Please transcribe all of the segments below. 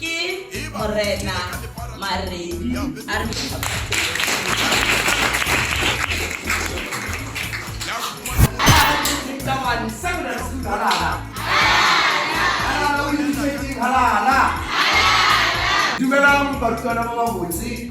ke Morena Maredi. A re Dumelang barutwana ba babotse.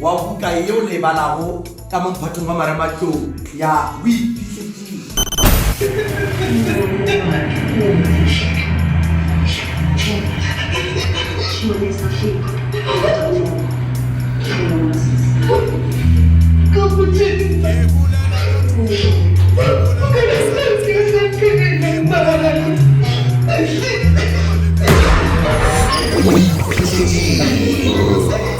wa buka yeo le e balago ka mo mphathong wa marematlou ya boiphetetše.